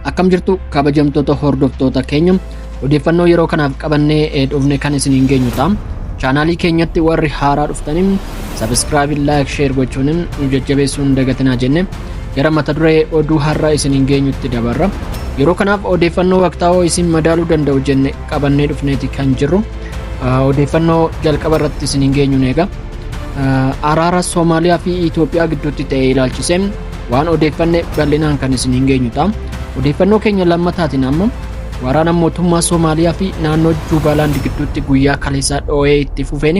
akkam jirtu kabajamtoota hordoftoota keenya odeeffannoo yeroo kanaaf qabannee eh, dhufne kan isiniin geenyu ta'a chaanaalii keenyatti warri haaraa dhuftaniin sabiskiraabii laayik sheer gochuun nu jajjabeessuun hin dagatinaa jenne gara mata duree oduu har'a isiniin geenyutti dabarra yeroo kanaaf odeeffannoo waqtaawoo isin madaaluu danda'u jenne qabannee dhufneeti kan jirru Odeeffannoo jalqaba irratti isiniin geenyuun eega. Araara Soomaaliyaa fi Itoophiyaa gidduutti ta'e ilaalchisee waan odeeffanne bal'inaan kan isiniin geenyu ta'a. Odeeffannoo keenya lammataatiin ammoo waraana mootummaa Soomaaliyaa fi naannoo Juubaalaand gidduutti guyyaa kaleessaa dhoo'ee itti fufeen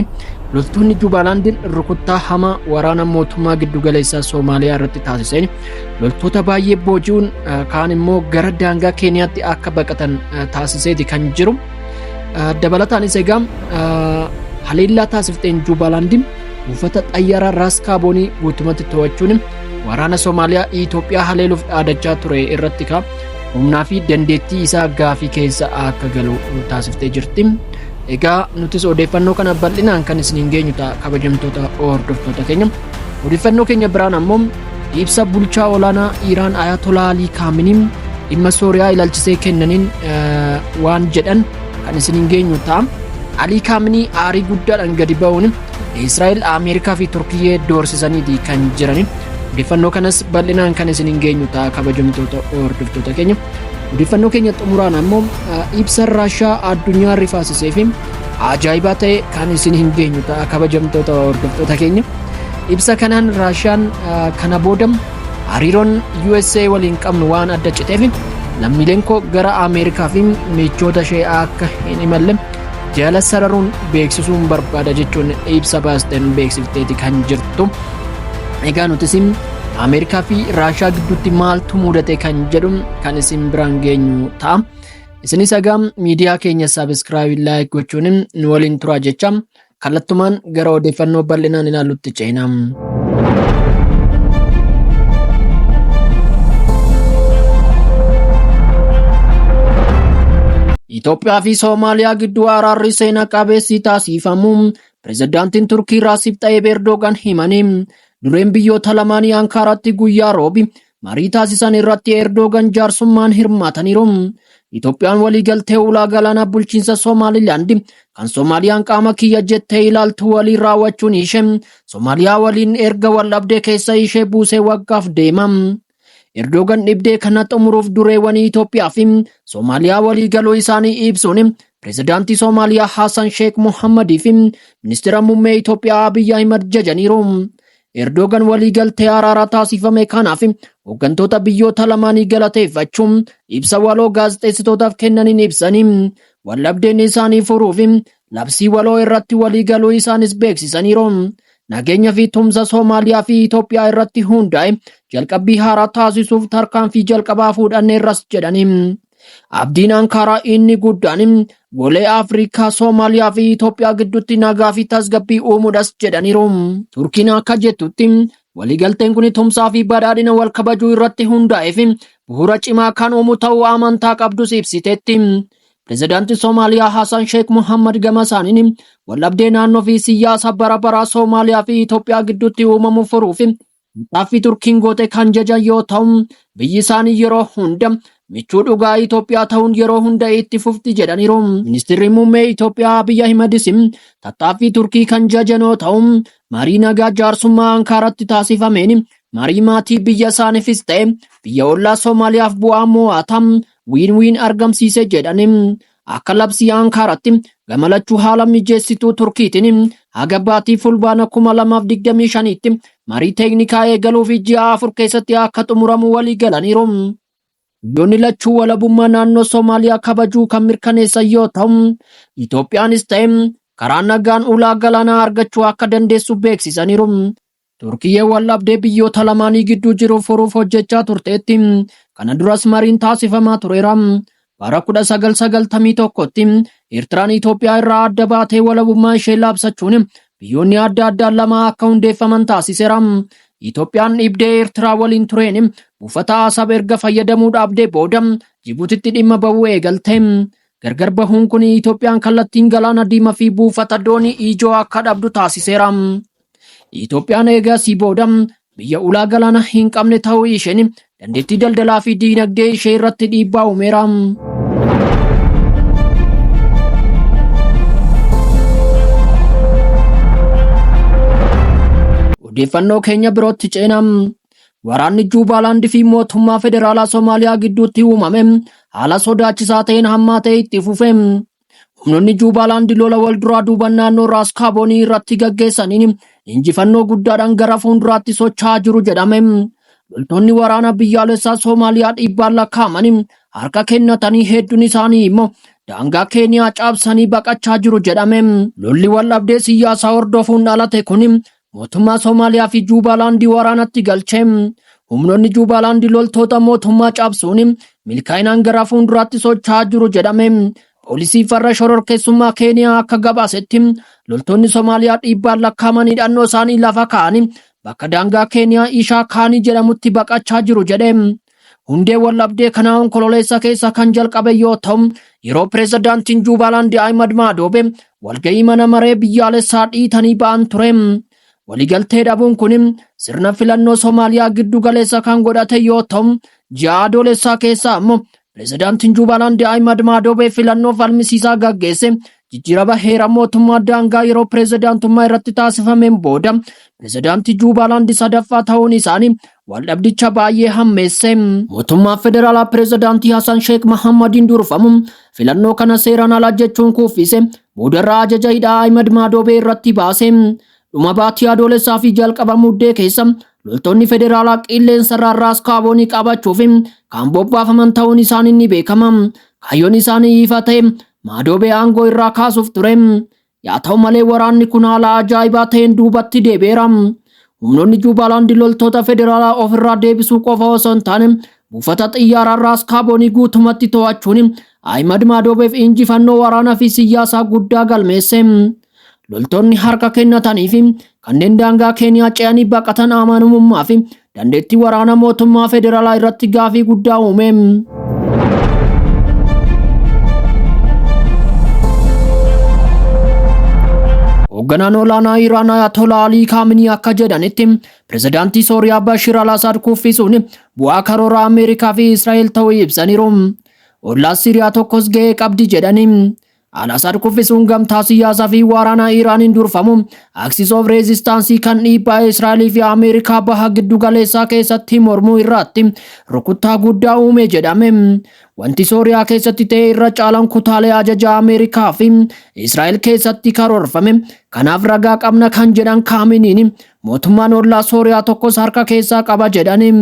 loltoonni Juubaalaand rukuttaa hamaa waraana mootummaa giddugaleessaa Soomaaliyaa irratti taasiseen loltoota baay'ee booji'uun kaan immoo gara daangaa Keeniyaatti akka baqatan taasiseeti kan jiru. Dabalataanis egaa haleellaa taasifteen Juubaalaandiin buufata xayyaaraa Raas Kaaboonii guutumatti to'achuun waraana Somaaliyaa Itoophiyaa haleeluuf dhaadachaa ture irratti ka humnaa fi dandeettii isaa gaafii keessa akka galu taasiftee jirti. Egaa nutis odeeffannoo kana bal'inaan kan isiniin geenyu ta'a kabajamtoota hordoftoota keenya. Odeeffannoo keenya biraan ammoo Ibsa bulchaa olaanaa Iiraan Ayatolaa Alii Kaaminiin dhimma Sooriyaa ilaalchisee kennaniin waan jedhan kan isin hin geenyu ta'a. Alii Kaaminii aarii guddaadhaan gadi ba'uun Israa'el, Ameerikaa fi Turkiyyee doorsisaniiti kan jirani. Odeeffannoo kanas bal'inaan kan isin hin geenyu ta'a kabajamtoota hordoftoota keenya. Odeeffannoo keenya xumuraan ammoo ibsa Raashaa addunyaa rifaasisee fi ajaa'ibaa ta'e kan isin hin geenyu ta'a kabajamtoota hordoftoota keenya. Ibsa kanaan Raashiyaan ah, kana booda hariiroon USA waliin qabnu waan adda citeef lammiileen koo gara Ameerikaa fi michoota ishee akka hin imalle jala sararuun beeksisuun barbaada jechuun ibsa baasteen beeksifteeti kan jirtu. Egaa nuti isin Ameerikaa fi Raashiyaa gidduutti maaltu mudate kan jedhu kan isin biraan geenyu ta'a. Isinis egaa miidiyaa keenya saabskraayib laayik gochuun nu waliin turaa jecha kallattumaan gara odeeffannoo bal'inaan ilaallutti ceena. Itoophiyaa fi Soomaaliyaa gidduu araarri seena qabeessi taasifamu pirezidaantiin Turkii Raasib Xayyib Erdogan himanii dureen biyyoota lamaanii Ankaaraatti guyyaa roobi Marii taasisan irratti Eerdoogan jaarsummaan hirmaataniiru. Itoophiyaan waliigaltee ulaa galaanaa bulchiinsa Somaalilaandi kan Somaaliyaan qaama kiyya jettee ilaaltu waliin raawwachuun ishee Somaaliyaa waliin erga waldhabdee keessa ishee buusee waggaaf deema. Eerdoogan dhibdee kana xumuruuf dureewwanii Itoophiyaa fi Somaaliyaa waliigaluu isaanii ibsuun pirezidaantii Somaaliyaa Haasan Sheek Mohammadii fi ministeera muummee Itoophiyaa Abiyyi Ahimad jajaniiru. Erdoogan waliigaltee araaraa taasifame kanaaf hooggantoota biyyoota lamaanii galateeffachuun ibsa waloo gaazexeessitootaaf kennaniin ibsanii waldhabdeen isaanii furuuf labsii waloo irratti waliigaluu isaanis beeksisaniiru. Nageenya fi tumsa Soomaaliyaa fi Itoophiyaa irratti hundaa'e jalqabbii haaraa taasisuuf tarkaanfii jalqabaa fuudhanneerras jedhanii. Abdiin Ankaaraa inni guddaan golee Afrikaa, Soomaaliyaa fi Itoophiyaa gidduutti nagaa fi tasgabbii uumuudhas jedhaniiru. Turkiin akka jettutti waliigalteen kun tumsaa fi badhaadhina wal kabajuu irratti hundaa'ee fi bu'uura cimaa kan uumu ta'uu amantaa qabdus ibsiteetti. Pirezidaantii Soomaaliyaa Hasan Sheek Muhammad gama isaaniin waldhabdee naannoo fi siyaasa bara baraa Soomaaliyaa fi Itoophiyaa gidduutti uumamu furuuf Maqaafi Turkiin goote kan jajan yoo ta'u, biyyi isaanii yeroo hunda michuu dhugaa Itoophiyaa ta'uun yeroo hunda itti fufti jedhaniiru. Ministirri Muummee Itoophiyaa Abiy Ahimedis tattaaffii Turkii kan jajan yoo ta'u, marii nagaa jaarsummaa Ankaaratti taasifameen marii maatii biyya isaaniifis ta'e biyya ollaa Somaaliyaaf bu'aa moo'ataa win-win argamsiise jedhani. Akka labsii Ankaaratti gama lachuu haala mijeessituu Turkiitiin haga baatii Fulbaana 2025tti marii teeknikaa eegaluu fi ji'a afur keessatti akka xumuramu walii galaniiru. Biyyoonni lachuu walabummaa naannoo Somaaliyaa kabajuu kan mirkaneessan yoo ta'u, Itoophiyaanis ta'e karaa nagaan ulaa galaanaa argachuu akka dandeessu beeksisaniiru. Turkiyyeen waldhabdee biyyoota lamaanii gidduu jiru furuuf hojjechaa turteetti. Kana duras mariin taasifamaa tureera. Bara 1991tti Eertiraan Itoophiyaa irraa adda baatee walabummaa ishee labsachuun biyyoonni adda addaa lama akka hundeeffaman taasiseera. Itoophiyaan dhibdee Eertiraa waliin tureen buufata Asab erga fayyadamuu dhaabdee booda Jibuutitti dhimma bahuu eegalte. Gargar bahuun kun Itoophiyaan kallattiin galaana diimaa fi buufata doonii ijoo akka dhabdu taasiseera. Itoophiyaan eegasii booda biyya ulaa galaana hin qabne ta'uu isheen dandeettii daldalaa fi diinagdee ishee irratti dhiibbaa uumeera. Odeeffannoo keenya birootti ceena. Waraanni Juubaalaand fi mootummaa federaalaa Somaaliyaa gidduutti uumame haala sodaachisaa ta'een hammaa ta'e itti fufe. Humnoonni Juubaalaandi lola wal duraa duuban naannoo Raas Kaaboonii irratti gaggeessaniin injifannoo guddaadhaan gara fuulduraatti socho'aa jiru jedhame. Loltoonni waraana biyyaalessaa Soomaaliyaa dhibbaan lakkaa'amanii harka kennatanii hedduun isaanii immoo daangaa Keeniyaa cabsanii baqachaa jiru jedhame. Lolli waldhabdee siyaasaa hordofuun dhalate kun Mootummaa Somaaliyaa fi Juubaalaandii waraanatti galche. Humnoonni Juubaalaandii loltoota mootummaa cabsuun milkaa'inaan gara fuulduraatti socho'aa jiru jedhame. Poolisii farra shororkeessummaa Keeniyaa akka gabaasetti loltoonni Somaaliyaa dhiibbaan lakkaa'aman hidhannoo isaanii lafa kaa'anii bakka daangaa Keeniyaa Ishaa Kaanii jedhamutti baqachaa jiru jedhe. Hundee waldhabdee kanaa onkololeessa keessa kan jalqabe yoo ta'u, yeroo pireezidaantiin Juubaalaandi Ahimad Maadoobe walga'ii mana maree biyyaalessaa dhiitanii ba'an ture. Waliigaltee dhabuun kun sirna filannoo Somaaliyaa giddu galeessa kan godhate yoo ta'u, ji'a adoolessaa keessaa ammoo pireezidaantiin Juubaalaandi Ahimad Maadoobe filannoo falmisiisaa gaggeesse Jijjiirama heera mootummaa daangaa yeroo pirezidaantummaa irratti taasifameen booda pirezidaantii Juubaalaandi sadaffaa ta'uun isaanii waldhabdicha baay'ee hammeesse. Mootummaa federaalaa pirezidaantii Hasan Sheek Mahammadiin durfamu filannoo kana seeraan ala jechuun kuffise boodarraa ajaja hidhaa Ahimad Maadoobee irratti baase. Dhuma baatii adoolessaa fi jalqaba muddee keessa loltoonni federaalaa qilleensarraa raas kaaboonii qabachuuf kan bobbaafaman ta'uun isaanii ni beekama. Kaayyoon isaanii ifa ta'e Maadoobee aangoo irraa kaasuuf ture. Yaa ta'u malee waraanni kun haala ajaa'ibaa ta'een duubatti deebi'eera. Humnoonni Juubaalaandi loltoota federaalaa ofirraa deebisuu qofa osoo hin taane buufata xiyyaaraa Raas Kaaboonii guutumatti to'achuun Ahimad Maadoobeef injifannoo waraanaa fi siyyaasaa guddaa galmeesse. Loltoonni harka kennatanii fi kanneen daangaa Keeniyaa ce'anii baqatan amanamummaa fi dandeettii waraana mootummaa federaalaa irratti gaafii guddaa uume. Hoogganaan olaanaa Iraan Ayatolaa Alii Kaaminii akka jedhanitti pirezidaantii Sooriyaa Bashir al-Asaad kuffisuun bu'aa karoora Ameerikaa fi Israa'el ta'uu ibsaniiru. Ollaa Siiriyaa tokkos ga'ee qabdi jedhanii Al-Asaad kuffisuun gamtaa siyaasaa fi waraanaa Iraaniin durfamu Axis of Resistance kan dhiibbaa Israa'elii fi Ameerikaa baha giddu galeessaa keessatti mormuu irraatti rukuttaa guddaa uume jedhame. Wanti Sooriyaa keessatti ta'e irra caalaan kutaalee ajajaa Ameerikaa fi Israa'el keessatti karoorfame. Kanaaf ragaa qabna kan jedhan Kaaminiin mootummaan ollaa Sooriyaa tokkos harka keessaa qaba jedhani.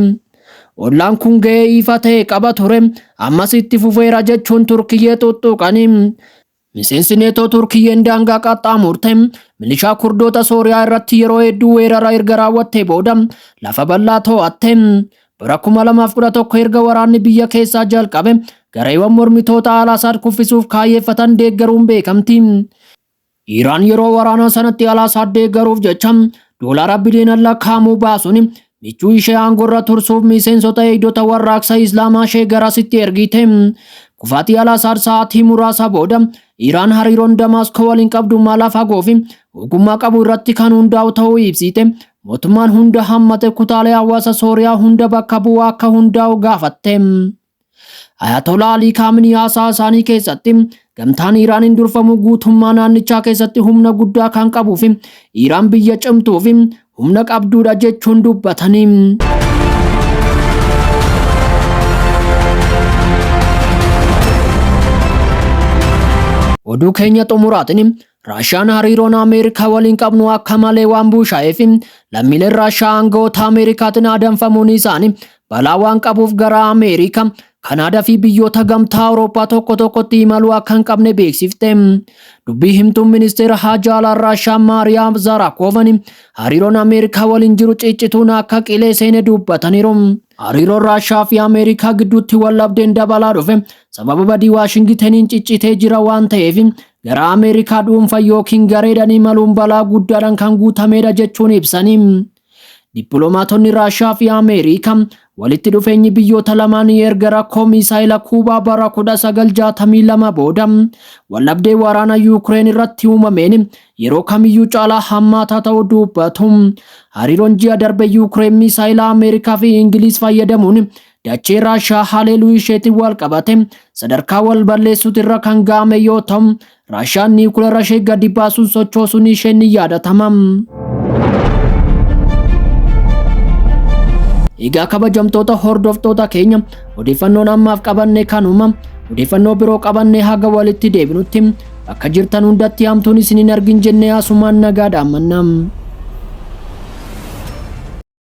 Ollaan kun gahee ifa ta'e qaba ture, ammas itti fufeera jechuun Turkiyyee xuxxuuqanii. Miseensi Neetoo Turkiyyeen daangaa qaxxaamurte milishaa Kurdoota Sooriyaa irratti yeroo hedduu weerara erga raawwattee booda lafa bal'aa to'atte. Bara 2011 erga waraanni biyya keessaa jalqabe gareewwan mormitoota Al-Asaad kuffisuuf kaayyeeffatan deeggaruun beekamti. Iraan yeroo waraanaa sanatti Alaasaad deeggaruuf jecha doolaara biliyoonaan lakkaa'amu baasuun michuu ishee aangorra tursuuf miseensota eegdota warraaqsa Islaamaa ishee garasitti ergite. Kufaatii Alaasaad sa'aatii muraasa booda Iraan hariiroon Damaaskoo waliin qabdu mala fagoo fi ogummaa qabu irratti kan hundaa'u ta'uu ibsite. Mootummaan hunda hammate kutaalee hawaasa Sooriyaa hunda bakka bu'u akka hundaa'u gaafatte. Ayatolaa Alii Kaaminii haasaa isaanii keessatti gamtaan Iiraaniin durfamu guutummaa naannichaa keessatti humna guddaa kan qabuu fi Iiraan biyya cimtuu fi humna qabduudha jechuun dubbatanii. Oduu keenya xumuraatiin Raashiyaan hariiroon Ameerikaa waliin qabnu akka malee waan buushaa'eef lammiileen Raashiyaa aangawoota Ameerikaatiin adamfamuun isaanii balaa waan qabuuf gara Ameerikaa, Kanaadaa fi biyyoota gamtaa Awurooppaa tokko tokkotti imaluu akka hin qabne beeksifte. Dubbii himtuun ministeera haajaa alaa Raashiyaa Maariyaa Zaaraakoovani hariiroon Ameerikaa waliin jiru ciccituun akka qilee seene dubbataniiru. Hariiroon Raashaa fi Ameerikaa gidduutti wallabdeen dabalaa dhufe sababa badii Waashingitaniin ciccitee jira waan ta'eef gara Ameerikaa dhuunfaa yookiin gareedhaan imaluun balaa guddaadhaan kan guutameedha jechuun ibsani. Dippiloomaatonni Raashaa fi Ameerikaa walitti dhufeenyi biyyoota lamaanii erga rakkoo miisaayila Kuubaa bara 1962 booda wallabdee waraana Yuukireen irratti uumameen Yeroo kamiyyuu caalaa hammaataa ta'uu dubbatu. Hariiroon ji'a darbe Yuukireen miisaayila Ameerikaa fi Ingiliiz fayyadamuun dachee Raashiyaa haleeluu isheetiin wal qabate sadarkaa wal balleessuuti irra kan ga'ame yoo ta'u, Raashiyaan niikulara ishee gadi baasuun sochoosuun ishee ni yaadatama. Egaa kabajamtoota hordoftoota keenya odeeffannoon ammaaf qabanne kanuma odeeffannoo biroo qabannee haga walitti deebinutti Bakka jirtan hundatti hamtuun isin hin argin jennee asumaan nagaa dhaammanna.